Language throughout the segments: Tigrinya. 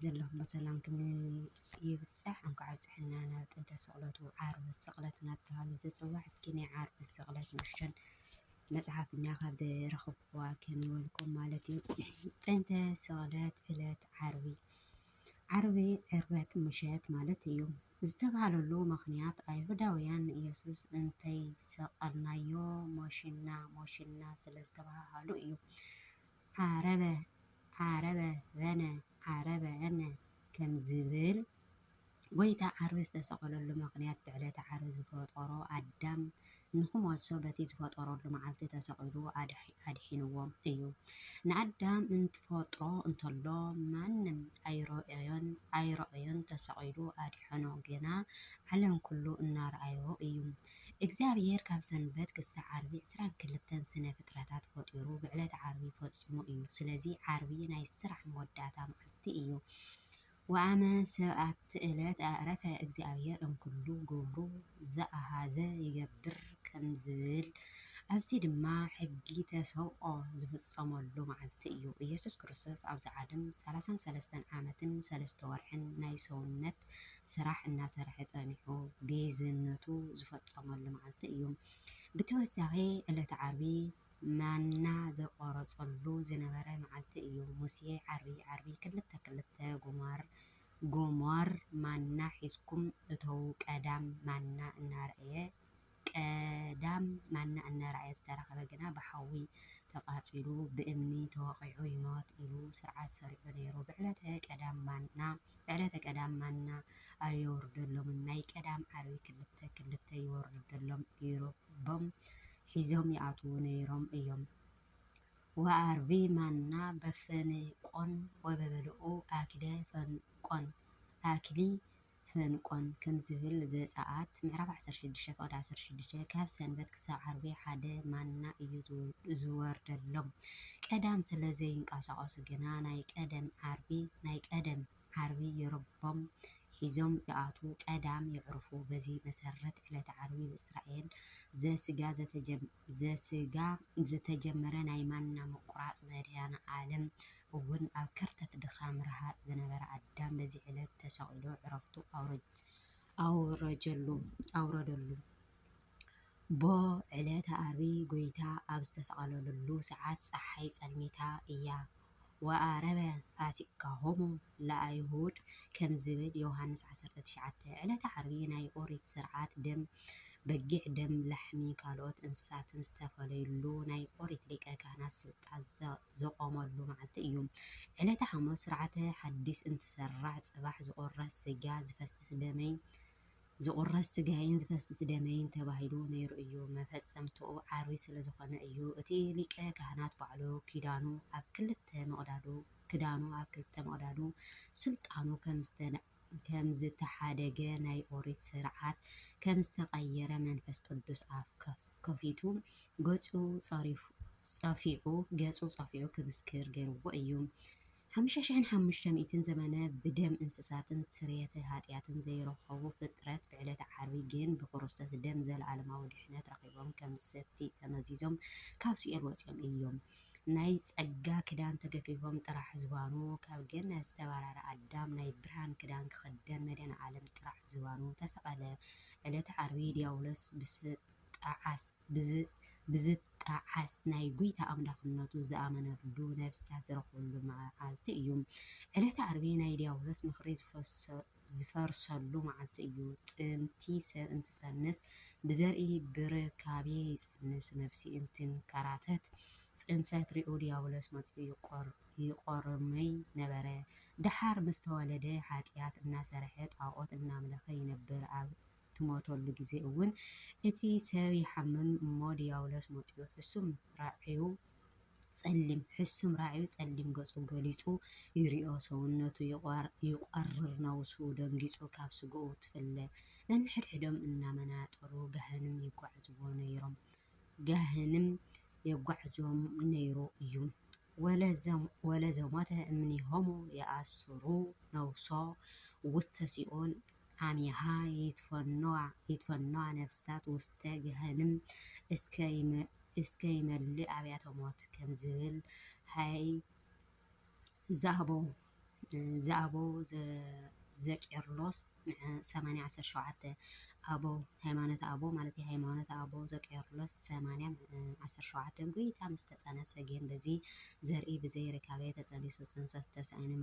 ዘለኹም ብሰላም ይብፃሕ እንኳዕ ኣብፀሐና ናብ ጥንተ ስቅለቱ ዓርቢ ስቅለት እናተባህለ ዝፅዋዕ እስኪ ናይ ዓርቢ ስቅለት ንእሽተን መፅሓፍ እኒኣ ካብ ዝረኸብኩዋ ከንበልኩም ማለት እዩ ጥንተ ስቅለት ዕለት ዓርቢ ዓርቢ ዕርበት ምሸት ማለት እዩ ዝተባሃለሉ ምክንያት ኣይሁዳውያን ንኢየሱስ እንተይሰቀልናዮ ሞሽና ሞሽና ስለ ዝተባሃሉ እዩ። ዓረበ ዓረበ በነ ዓረበ እነ ከም ዝብል፣ ጐይታ ዓርቢ ዝተሰቐለሉ ምኽንያት ብዕለተ ዓርቢ ዝፈጠሮ ኣዳም ንኽሞቶ በቲ ዝፈጠረሉ መዓልቲ ተሰቒሉ ኣድሒንዎም እዩ። ንኣዳም እንትፈጥሮ እንተሎ ማንም ኣይረኣዮን ተሰቒሉ ኣድሐኖ ግና ዓለም ኩሉ እናረኣዮ እዩ። እግዚኣብሄር ካብ ሰንበት ክሳዕ ዓርቢ ዕስራን ክልተን ስነ ፍጥረታት ፈጢሩ ብዕለተ ዓርቢ ፈጹሙ እዩ ስለዚ ዓርቢ ናይ ስራሕ መወዳእታ መዓልቲ እዩ ወኣመ ሰብኣት እለት ኣዕረፈ እግዚኣብሄር እምኩሉ ግብሩ ዘኣሃዘ ይገብር ከም ዝብል ኣብዚ ድማ ሕጊ ተሰብኦ ዝፍጸመሉ መዓልቲ እዩ ኢየሱስ ክርስቶስ ኣብዚ ዓለም ሰላሳን ሰለስተን ዓመትን ሰለስተ ወርሕን ናይ ሰውነት ፕሮጀክት ስራሕ እናሰርሐ ፀኒሑ ቤዝነቱ ዝፈፀመሉ መዓልቲ እዩ። ብተወሳኺ ዕለተ ዓርቢ ማና ዘቆረፀሉ ዝነበረ መዓልቲ እዩ። ሙሴ ዓርቢ ዓርቢ ክልተ ክልተ ጎማር ጎማር ማና ሒዝኩም እተዉ ቀዳም ማና እናረኣየ ቀዳም ማና እናረኣየ ዝተረኸበ ግና ብሓዊ ተቓፂሉ ብእምኒ ተወቒዑ ይሞት ኢሉ ስርዓት ሰሪዑ ነይሩ። ብዕለተ ቀዳም ማና ብዕለተ ቀዳም ማና ኣየውርደሎምን ናይ ቀዳም ዓርቢ ክልተ ክልተ ይወርደሎም ኢሮቦም ሒዞም ይኣትዉ ነይሮም እዮም። ወዓርቢ ማና በፈንቆን ወበበልኡ ኣኪለ ፈንቆን ኣኪሊ ፈንቆን ከም ዝብል ዘጸኣት ምዕራፍ ዓሰርተ ሽዱሽተ ፍቕዲ ዓሰርተ ሽዱሽተ፣ ካብ ሰንበት ክሳብ ዓርቢ ሓደ ማና እዩ ዝወርደሎም። ቀዳም ስለ ዘይንቀሳቐሱ ግና ናይ ቀደም ዓርቢ ናይ ቀደም ዓርቢ የርቦም ሒዞም ይኣትዉ፣ ቀዳም የዕርፉ። በዚ መሰረት ዕለተ ዓርቢ ብእስራኤል ዘስጋ ዝተጀመረ ናይ ማና ምቁራጽ መድሃኔ ዓለም እውን ኣብ ከርተት ድኻም ረሃጽ ዝነበረ ኣዳም በዚ ዕለት ተሰቒሉ ዕረፍቱ ኣውረጀሉ፣ ኣውረደሉ። ብ ዕለተ ኣርቢ ጎይታ ኣብ ዝተሰቐለሉ ሰዓት ጸሓይ ጸልሚታ እያ፣ ወኣረበ ፋሲካሆሙ ለኣይሁድ ከም ዝብል ዮሃንስ ዓሰርተ ትሽዓተ። ዕለተ ዓርቢ ናይ ኦሪት ስርዓት ደም በጊዕ፣ ደም ላሕሚ ካልኦት እንስሳትን ዝተፈለዩሉ ናይ ኦሪት ሊቀ ካህናት ስልጣን። ኣብ ዘቆመሉ መዓልቲ እዩ። ዕለተ ሓሙስ ስርዓተ ሓዲስ እንትሰራዕ ፅባሕ ዝቁረስ ስጋ ዝፈስስ ደመይ ዝቁረስ ስጋይን ዝፈስስ ደመይን ተባሂሉ ነይሩ እዩ። መፈፀምትኡ ዓርቢ ስለዝኾነ እዩ እቲ ሊቀ ካህናት ባዕሉ ኪዳኑ ኣብ ክልተ መቅዳዱ ክዳኑ ኣብ ክልተ መቅዳዱ ስልጣኑ ከምዝተነፀለ ከም ዝተሓደገ ናይ ኦሪት ስርዓት ከም ዝተቀየረ መንፈስ ቅዱስ ኣፍ ከፊቱ ገጹ ጸፊዑ ገጹ ጸፊዑ ክምስክር ገርዎ እዩ። ሓሙሽተ ሽሕን ሓሙሽተ ሚእትን ዘመነ ብደም እንስሳትን ስርየተ ሃጥያትን ዘይረከቡ ፍጥረት ብዕለተ ዓርቢ ግን ብክርስቶስ ደም ዘለኣለማዊ ድሕነት ረኪቦም ከም ዝሰቲ ተመዚዞም ካብ ሲኦል ወጺኦም እዮም። ናይ ጸጋ ክዳን ተገፊፎም ጥራሕ ዝባኑ ካብ ገነት ዝተባረረ ኣዳም ናይ ብርሃን ክዳን ክኽደን መድሃኔ ዓለም ጥራሕ ዝባኑ ተሰቐለ ዕለተ ዓርቢ ድያብሎስ ብዝጣዓስ ናይ ጎይታ ኣምላኽነቱ ዝኣመነሉ ነፍሳት ዝረኽብሉ መዓልቲ እዩ ዕለተ ዓርቢ ናይ ድያብሎስ ምኽሪ ዝፈሰሉ ዝፈርሰሉ መዓልቲ እዩ። ጥንቲ ሰብ እንትጸንስ ብዘርኢ ብርካቤ ይጸንስ፣ ነፍሲ እንትንከራተት ጽንሰት ሪኡ ድያብሎስ መጺኡ ይቆርመይ ነበረ። ደሓር ምስ ተወለደ ሓጥያት እናሰርሐ ጣኦት እናምለኸ ይነብር፣ ኣብ ትሞተሉ ግዜ እውን እቲ ሰብ ይሓምም እሞ ድያብሎስ መጺኡ ሕሱም ራዕዩ ጸሊም ሕሱም ራዕዩ ጸሊም ገጹ ገሊጹ ይሪኦ ሰውነቱ ይቆርር ነብሱ ደንጊጹ ካብ ስግኡ ትፍለ ነንሕድሕዶም እናመናጠሩ ጋህንም የጓዕዝዎ ነይሮም ጋህንም የጓዕዞም ነይሩ እዩ ወለ ዘሞተ እምኒሆሙ ይኣስሩ ነብሶ ውስተ ሲኦል አሚሃ ይትፈኖዋ ነፍሳት ውስተ ገሀንም እስከ ይመልእ አብያተ ሞት ከምዝብል ሀይ ዘአበው ዘቄርሎስ ሰማንያ ዓሰርተ ሸውዓተ አበው ሃይማኖተ አበው ማለት ሃይማኖተ አበው ዘቄርሎስ ሰማንያ ዓሰርተ ሸውዓተ ጎይታ ምስ ተጸነሰ ግን በዚ ዘርኢ ብዘይ ርካቤ ተጸኒሱ ጽንሰት ተሳኢኑ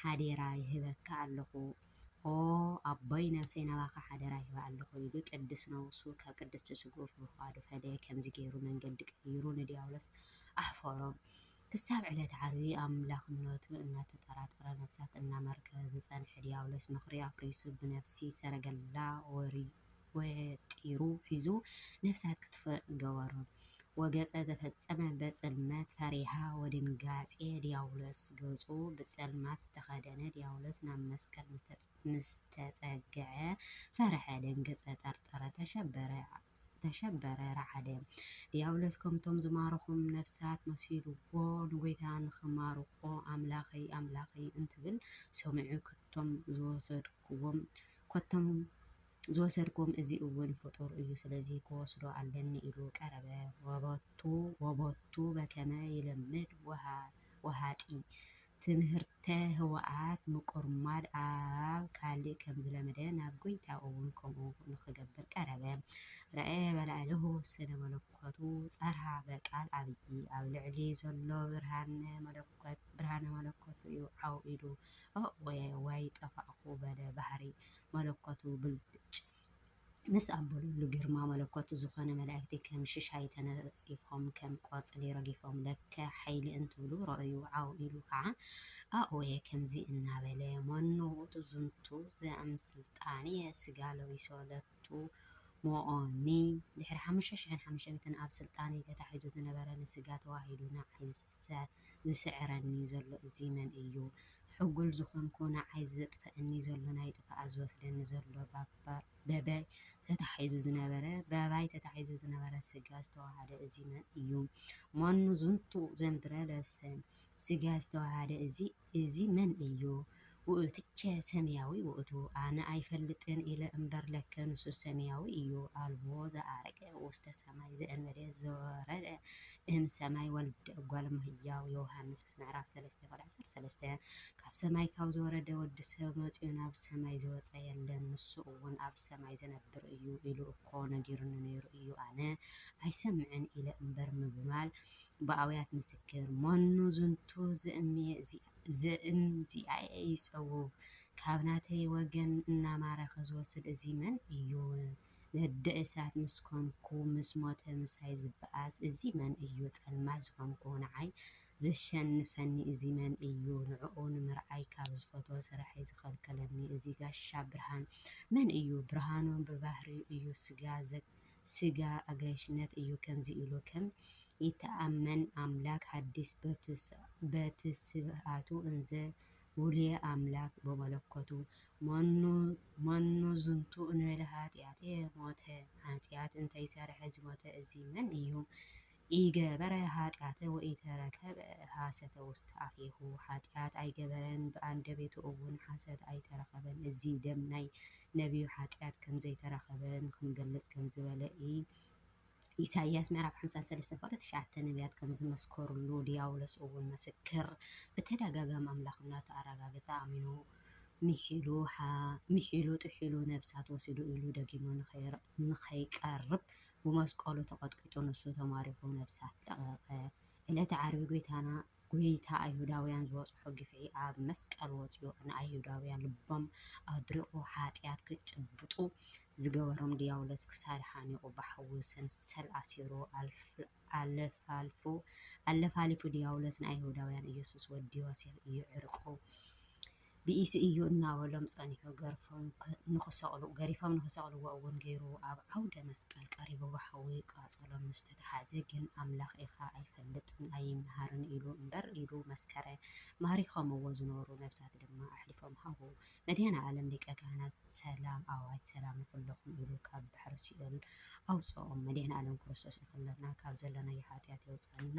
ሓዴራ ይህበካ ኣሎኹ ኦ ኣቦይ ነብሰይ ናባኻ ሓደራ ሂበ ኣሎኹ ኢሉ ቅድስ ነውሱ ካብ ቅድስቲ ስግኡ ብምፍቓዱ ፈለየ ከምዚ ገይሩ መንገዲ ቀይሩ ንድያብሎስ ኣሕፈሮ ክሳብ ዕለተ ዓርቢ ኣምላኽነቱ እናተጠራጠረ ነፍሳት እናማርከ ዝጸንሐ ድያብሎስ ምኽሪ ኣፍሪሱ ብነፍሲ ሰረገላ ወርዩ ወጢሩ ሒዙ ነፍሳት ክጥፍእ ገበሮ። ወገጸ ዘፈጸመ በጽልመት ፈሪሃ ወድንጋጼ ዲያብሎስ ገጹ ብጸልማት ዝተኸደነ ዲያብሎስ ናብ መስቀል ምስ ተጸግዐ ፈርሐ ደንገጸ ጠርጠረ ተሸበረ ረዓደ። ዲያብሎስ ከምቶም ዝማረኹም ነፍሳት መሲሉዎ ንጐይታ ንኽማርኾ ኣምላኸይ ኣምላኸይ እንትብል ሰሚዑ ከቶም ዝወሰድኩዎም ከቶም ዝወሰድኩም እዚ እውን ፍጡር እዩ ስለዚ ክወስዶ ኣለኒ ኢሉ ቀረበ ወበቱ ወበቱ በከመ ይልምድ ወሃጢ ትምህርተ ህወኣት ምቁርማድ ኣብ ካሊእ ከምዝለመደ ናብ ጎይታ እውን ከምኡ ንክገብር ቀረበ ረኣየ በላዕሌሁ ስነ መለኮቱ ጸርሃ በቃል ኣብይ ኣብ ልዕሊ ዘሎ ብርሃነ መለኮት ርእዩ ዓው ኢሉ ኦእወ ዋይ ጠፋእኩ በለ ባህሪ መለኮቱ ብልጭ ምስ ኣበሉሉ ግርማ መለኮቱ ዝኾነ መላእክቲ ከም ሽሻይ ተነጺፎም ከም ቆጽሊ ረጊፎም ለከ ሓይሊ እንትብሉ ረኣዩ ዓው ኢሉ ከኣ ኣእወየ ከምዚ እናበለ መኑ ውእቱ ዝንቱ ዘእምስልጣንየ ስጋ ለቢሶ ለትሞኦኒ ድሕሪ ሓሙሽተ ሽሕን ሓሙሽተ ሚእትን ኣብ ስልጣንይ ተታሒዙ ዝነበረ ንስጋ ተዋሂዱ ንዓይ ዝስዕረኒ ዘሎ እዚ መን እዩ ሕጉል ዝኾንኩ ንዓይ ዘጥፈኣኒ ዘሎ ናይ ጥፋኣት ዝወስደኒ ዘሎ በበይ ተታሒዙ ዝነበረ በባይ ተታሒዙ ዝነበረ ስጋ ዝተዋሃደ እዚ መን እዩ መኑ ዝንቱ ዘምድረ ለብሰ ስጋ ዝተዋሃደ እዚ እዚ መን እዩ ውእቱቸ ሰማያዊ ውእቱ ኣነ ኣይፈልጥን ኢለ እምበር ለከ ንሱ ሰማያዊ እዩ ኣልቦ ዘኣረገ ውስተ ሰማይ ዘእንበሌ ዘወረደ እም ሰማይ ወልደ እጓለ እመሕያው ዮሐንስ ምዕራፍ ሰለስተ ቁጥሪ ዓሰርተ ሰለስተ፣ ካብ ሰማይ ካብ ዝወረደ ወዲ ሰብ መጺኡ ናብ ሰማይ ዝወጸ የለን፣ ንሱ እውን ኣብ ሰማይ ዝነብር እዩ ኢሉ እኮ ነጊሩኒ ነይሩ እዩ፣ ኣነ ኣይሰምዕን ኢለ እምበር ምብባል ብኣውያት ምስክር፣ መኑ ዝንቱ ዝእምዚኣኤ ይጸውው፣ ካብ ናተይ ወገን እናማረኸ ዝወስድ እዚ መን እዩ? ነደ እሳት ምስ ኮንኩ ምስ ሞተ ምሳይ ዝበኣስ እዚ መን እዩ ፀልማት ዝኾንኩ ንዓይ ዘሸንፈኒ እዚ መን እዩ ንዕኡ ንምርኣይ ካብ ዝፈትዎ ስርሐይ ዝኸልከለኒ እዚ ጋሻ ብርሃን መን እዩ ብርሃኑ ብባህሪኡ እዩ ስጋ ስጋ ኣጋይሽነት እዩ ከምዚ ኢሉ ከም ይተኣመን ኣምላክ ሓዲስ በትስብእቱ እንዘ ውሉየ ኣምላክ በመለኮቱ መኑ መኑ ዝንቱ እንበለ ኃጢኣተ ሞተ ኃጢኣት እንተይሠርሐ ዝሞተ እዚ መን እዩ? ኢገበረ ኃጢኣተ ወኢተረከበ ሐሰተ ውስተ ኣፌሁ ኃጢኣት ኣይገበረን ብኣንደቤቱ እውን ሐሰት ኣይተረኸበን እዚ ደም ናይ ነቢዩ ኃጢኣት ከምዘይተረከበ ንክንገልጽ ከምዝበለ ኢሳይያስ ምዕራፍ ሓምሳን ሰለስተን ፍቕዲ ትሽዓተ ነብያት ከም ዝመስከሩሉ፣ ድያብሎስ እውን ምስክር ብተደጋጋሚ ኣምላኽነቱ ኣረጋገጸ፣ ኣሚኑ፣ ምሒሉ፣ ጥሒሉ፣ ነፍሳት ወሲዱ ኢሉ ደጊሙ ንኸይቀርብ ብመስቀሉ ተቐጥቂጡ፣ ንሱ ተማሪኹ ነፍሳት ለቐቐ። ዕለተ ዓርቢ ጐይታና ጐይታ ኣይሁዳውያን ዝበጽሖ ግፍዒ ኣብ መስቀል ወጺኡ ንኣይሁዳውያን ልቦም ኣድሪቑ ሓጥያት ክጭብጡ ዝገበሮም ድያብሎስ ክሳድ ሓኒቑ ብሓዊ ሰንሰል ኣሲሩ ኣለፋሊፉ ድያብሎስ ንኣይሁዳውያን ኢየሱስ ወዲ ዮሴፍ እዩ ዕርቁ ብኢሲ እዩ እናበሎም ጸኒሑ ገሪፎም ንኽሰቕልዎ እውን ገይሩ። ኣብ ዓውደ መስቀል ቀሪቡ ብሓዊ ቃጸሎም ምስ ተታሓዘ ግን ኣምላኽ ኢኻ ኣይፈልጥን ኣይምሃርን ኢሉ እምበር ኢሉ መስከረ። ማሪኾምዎ ዝነበሩ ነብሳት ድማ ኣሕሊፎም ሃቡ። መድኃኔዓለም ሊቀ ካህናት ሰላም ኣዋጅ ሰላም ንኹልኹም ኢሉ ካብ ባሕሪ ሲኦል ኣውጽኦም። መድኃኔዓለም ክርስቶስ ንኹልና ካብ ዘለናዮ ኃጢኣት የውጽኣና።